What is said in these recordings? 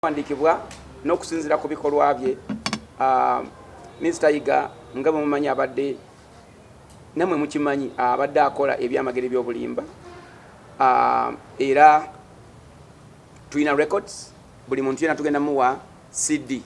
byawandiikibwa n'okusinziira ku bikolwa bye ah, minisita yiga nga bwe mumanyi abadde namwe mukimanyi ah, abadde akola ebyamagero ebyobulimba ah, era tulina records buli muntu yena tugenda muwa cd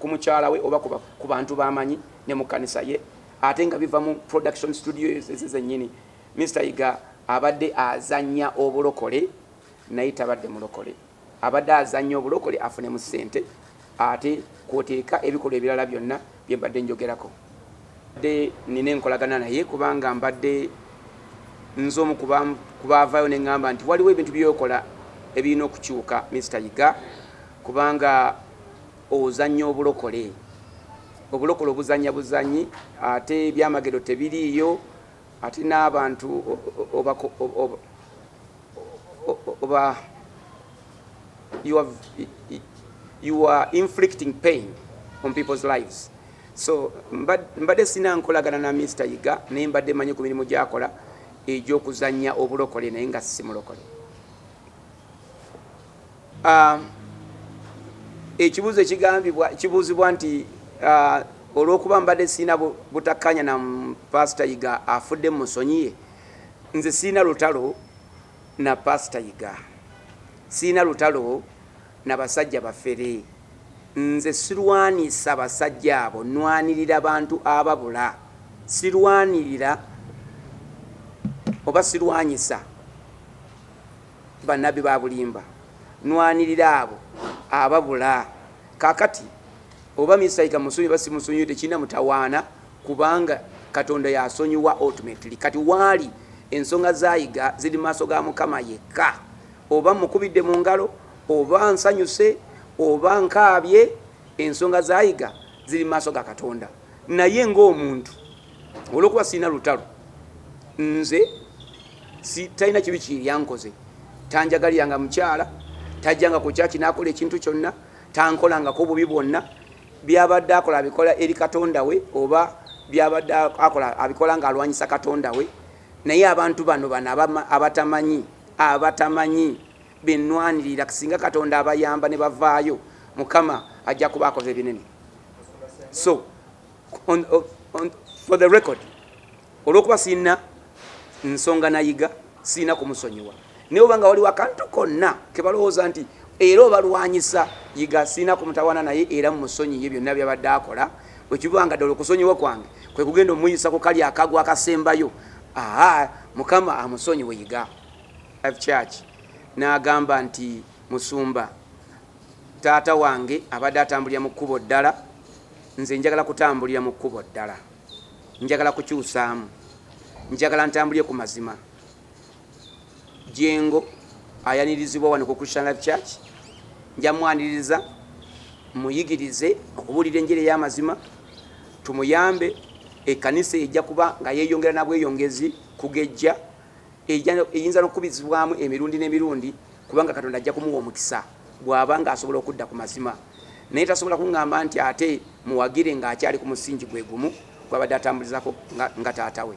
ku mukyala we oba ku bantu bamanyi ne mu kanisa ye ate nga biva mu production studio eze zenyini Mr Yiga abadde azanya obulokole naye tabadde mulokole abadde azanya obulokole afune mu sente ate kwoteeka ebikolwa ebirala byonna bye mbadde njogerako de nina enkolagana naye kubanga mbadde nze omu kubaavayo ne ŋŋamba nti waliwo ebintu byokola ebirina okukyuka Mr Yiga Kubanga ozannya obulokole. Obulokole obuzannya buzannyi ate ebyamagero tebiriiyo ate n'abantu oba you are inflicting pain on people's lives so mbadde sina nkolagana na Mister Yiga naye mbadde manyi ku mirimu gyakola egy'okuzannya obulokole naye nga simulokole. Ah, ekibuuzo ekigambibwa kibuuzibwa nti ah, olw'okuba mbadde sirina butakkaanya na paasita yiga afudde mu musonyiye nze sirina lutalo na paasita yiga sirina lutalo na basajja bafere nze sirwanisa basajja abo nwanirira bantu ababula sirwanirira oba sirwanyisa Banabi babulimba nwanirira abo ababula kakati oba Mister Yiga musonyiwe oba simusonyiwe tekirina mutawaana kubanga Katonda yasonyiwa ultimately kati waali ensonga za Yiga ziri maaso ga Mukama yekka oba mukubidde mu ngalo oba nsanyuse oba nkaabye ensonga za Yiga ziri maaso ga Katonda. naye ng'omuntu olwokuba sirina lutalo nze talina kibi kiyyankoze tanjagalira nga mukyala tajjanga ku kyaki n'akola ekintu kyonna tankolangako obubi bwonna byabadde akola abikola eri katonda we oba byabadde akola abikola ng'alwanyisa katonda we naye abantu bano bano abatamanyi abatamanyi benwanirira singa katonda abayamba ne bavaayo mukama ajja kuba akoze ebinene so on, on, on, for the record olwokuba sirina nsonga nayiga sirina kumusonyiwa naye obanga waliwo akantu konna kebalowooza nti era obalwanyisa yiga sirina kumutawana naye era mumusonyiye byonna byabadde akola wekibanga ddala okusonyiwa kwange kwe kugenda omuyisa ku kali akagwa akasembayo aa mukama amusonyiwe yiga church n'agamba nti musumba Taata wange abadde atambulira mu kkubo ddala, nze njagala kutambulira mu kkubo ddala. Njagala kukyusaamu. Njagala ntambulire ku mazima. Jengo ayanirizibwa wano ku Christian Life Church. Nja mwaniriza, muyigirize okubuulira enjiri ey'amazima, tumuyambe. Ekkanisa ejja kuba nga yeeyongera na bweyongezi kugejja, eyinza n'okukubizibwamu emirundi n'emirundi kubanga katonda ajja kumuwa omukisa bw'aba ng'asobola okudda ku mazima naye tasobola kuŋŋamba nti ate muwagire ng'akyali ku musingi gwe gumu gwabadde atambulizako nga taata we